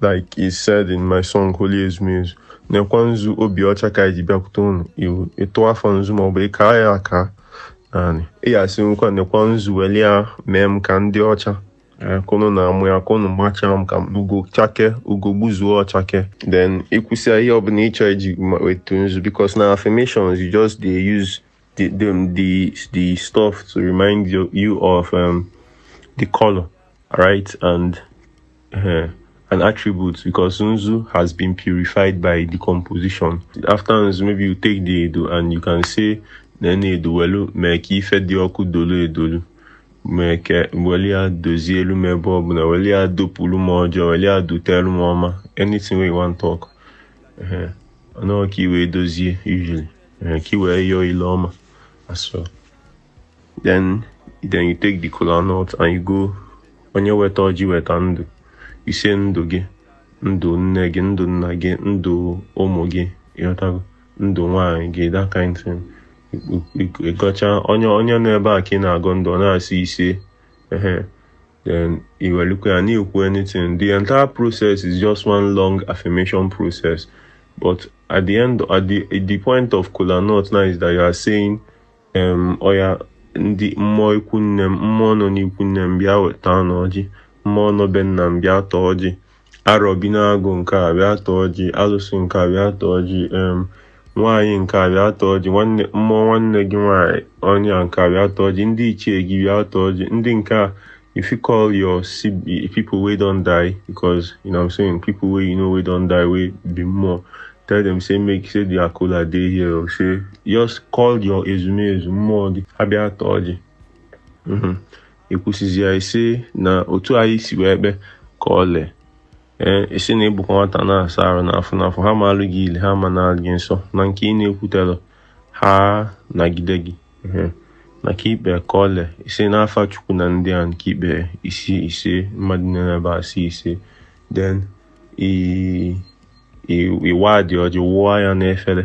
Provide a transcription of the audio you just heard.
Like I said in my song Holy Ezumezu, nekwa nzu obi ọcha ka e ji bịakwute unu iwu ịtụ afọ nzu ma ọ bụ ịka ya aka naanị ị ga-asị nkwa nekwa nzu weli ya mee m ka m dị ọcha ka unu na-amụ ya ka unu machaa m ka ugo chakee ugo gbuzuo ọ chakee then i kwusịa ihe ọbụla ị chọ iji ma- wetu nzu because na affirmations you just dey use the the um, the, the stuff to remind you you of um, the color, right, and uh, an attribute because Nzu has been purified by decomposition. After Nzu, maybe you take the edo and you can say nene edo welu mee ka ife dị ọkụ dolu edolu mee ka weli ya dozielu m ebe ọ bụla weli ya dopụlụ m ọjọọ weli ya dotelu m ọma anything wey you wan talk. Uh -huh. I know what you will do, usually. ka i wee yọọ ile ọma so then then you take the kola nut and you go onye weta ọjị weta ndụ ise ndụ gị ndụ nne gị ndụ nna gị ndụ ụmụ gị ị ghọtago ndụ nwaanyị gị that kind thing ị gọchaa onye onye nọ ebe a ka ị na-agọ ndụ ọ na-asị ise ehe Then i welukwa ya na-ekwu anything. The entire process is just one long affirmation process. But at the end, at the at the point of kola nut now is that you are saying, um, oya, ndị mmụọ ikwu nne m mmụọ nọ n'ikwu nne m bịa taanụ ọjị mmụọ nọ be nna m bịa taa ọjị arọ bi n'agụ nke a bịa taa ọjị alụsị nke a bịa taa ọjị em nwaanyị nke a bịa taa ọjị nwanne mmụọ nwanne gị nwaanyị onye a nke a bịa taa ọjị ndị ichie gị bịa taa ọjị ndị nke a if you call your sib- people wey don die because you know what i'm saying people wey you know wey don die wey be mmụọ tell them say make say their kola dey here or say just call your ezumezu mmụọ gị ha bịa taa ọjị Mhm. i kwusizia ị sị na otu anyị si wee kpee ka ọ lee ee ị sị na ị bụkwa nwata na-asa arụ n'afọ n'afọ ha ma alụ gị ile ha ma na gị nsọ na nke ị na-ekwutelọ ha nagide gị na ka i kpe ka ọ lee ise n'afa Chukwu na ndị a nke i kpe ị sị ise mmadụ nọ ebe ebe a sị ise then ị waa the ọjị wụọ ya n'efele